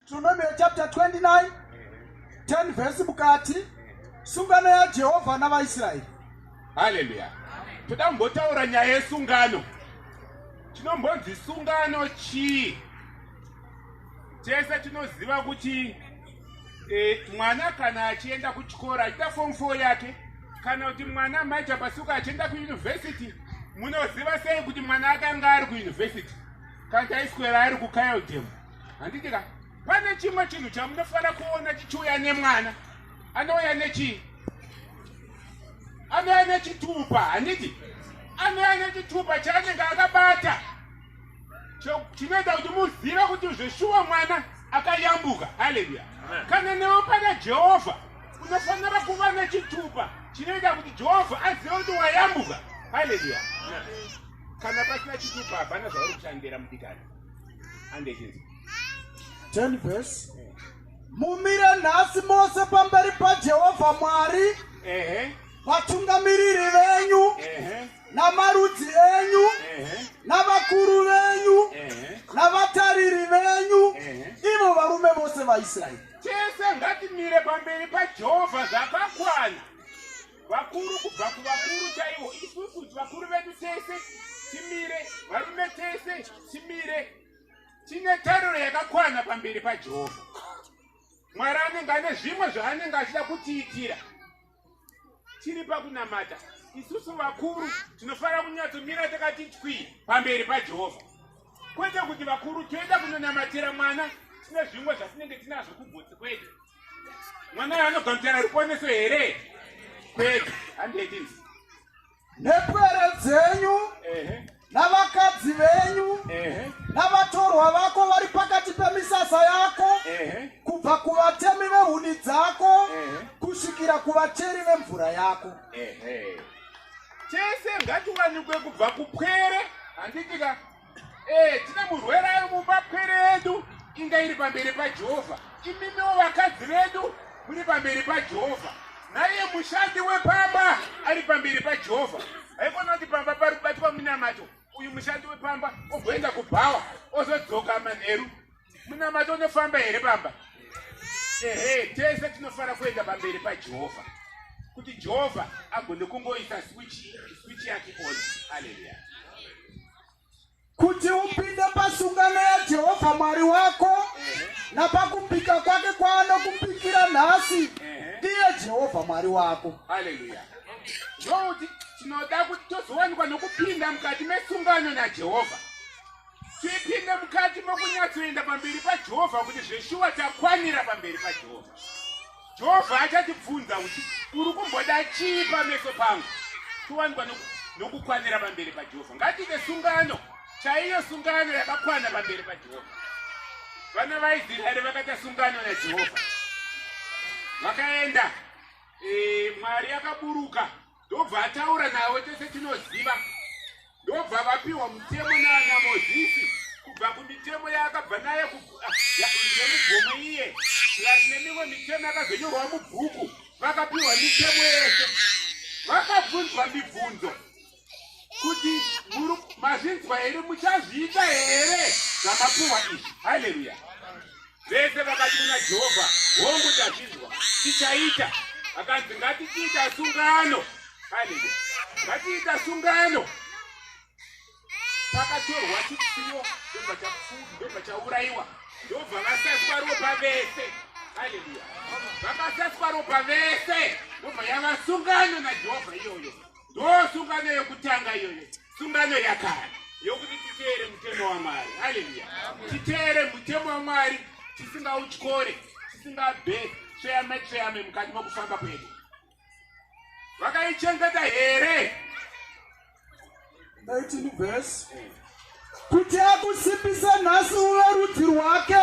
Deuteronomy chapter 29 10 verse mukati sungano yaJehovha navaIsraeri. Hallelujah. Toda kumbotaura nyaya yesungano. Chinombonzi sungano chii? Tese tinoziva kuti e, mwana kana achienda kuchikoro achiita form 4 yake kana kuti mwana maita pasuka achienda kuyunivhesiti munoziva sei kuti mwana akanga ari kuyunivhesiti kana taiswera ari kukayodhemu handiti ka pane chimwe chinhu chamunofanira kuona chichiuya nemwana anouya nechii anouya nechitupa handiti anouya nechitupa chaanenge akabata chinoita kuti muzive kuti zveshuwa mwana akayambuka haleluya kana newe pana jehovha unofanira kuva nechitupa chinoita kuti jehovha azive kuti wayambuka haleluya kana pasina chitupa hapana zvauri kushandira mudikani 10 verse mumire nhasi mose pamberi pajehovha mwari vatungamiriri venyu namarudzi enyu navakuru venyu navatariri venyu ivo varume vose vaisraeri tese ngatimire pamberi pajehovha zvakakwana vakuru kubva kuvakuru chaivo isusu vakuru vedu tese timire varume tese timire tine tariro yakakwana pamberi pajehovha mwari anenge ane zvimwe zvaanenge achida kutiitira tiri pakunamata isusu vakuru tinofanira kunyatsomirira takati twi pamberi pajehovha kwete kuti vakuru toenda kunonamatira mwana tine zvimwe zvatinenge tinazvo kugotsi kwedu mwana anogamuchana ruponeso here kwega handei nepwere dzenyu navakadzi venyu navatorwa vako vari pakati pemisasa yako kubva kuvatemi vehuni dzako kusvikira kuvacheri vemvura yako chese ngatiwanikwe kubva kupwere handitika Eh, tine murwere ari mumba pwere yedu inga iri pamberi pajehovha imimiwo vakadzi vedu muri pamberi pajehovha naiye mushandi wepamba ari pamberi pajehovha haikona kuti pamba pari kubatwa munamato uyu mushandi wepamba ogoenda kubhawa ozodzoka manheru munamato unofamba here bamba ehe tese tinofanira kuenda pamberi pajehovha kuti jehovha agone kungoisa swichi yake on aleluya kuti upinde pasungano yajehovha mwari wako napakupika kwake kwaanokupikira nhasi ndiye jehovha mwari wako aleluya ndokuti tinoda kuti tozowanikwa nokupinda mukati mesungano najehovha tipinde mukati mokunyatsoenda pamberi pajehovha kuti zveshuwa takwanira pamberi pajehovha jehovha achatibvunza kuti uri kumboda chii pameso pangu towanikwa nokukwanira pamberi pajehovha ngatiite sungano chaiyo sungano yakakwana pamberi pajehovha vana vaisraeri vakaita sungano najehovha vakaenda eh, mwari akaburuka ndobva ataura navo tese tinoziva ndobva vapiwa mutemo naana mozisi kubva kumitemo yaakabva naye ah, yemugomo iye plus nemimwe mitemo yakazonyorwa mubhuku vakapiwa mitemo yese vakabvunzwa mibvunzo kuti mazvinzwa here muchazviita here zvamapiwa izvi haleluya Vese vakati kuna Jehovha, Hongu, tazvinzwa, tichaita. Akanzi, Ngatichiita sungano. Haleluya. Ngatiita sungano. Pakatorwa chipfuyo, ndobva chapfuwa, ndobva chaurayiwa, ndobva vasaswa ropa vese. Haleluya. Vakasaswa ropa vese, ndobva yava sungano naJehovha iyoyo. ndosungano yokutanga iyoyo sungano yakare yokuti titeere mutemo wamwari haleluya titeere mutemo wamwari tisingautyore tisingabhe tsveyame tsveyame mukati mokufamba kwedu vakaichengeta here kuti akusimbise nhasi uve rudzi rwake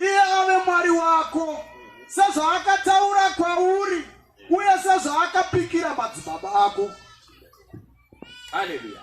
iye ave mwari wako sezvaakataura kwauri uye sezvaakapikira madzibaba ako. Haleluya.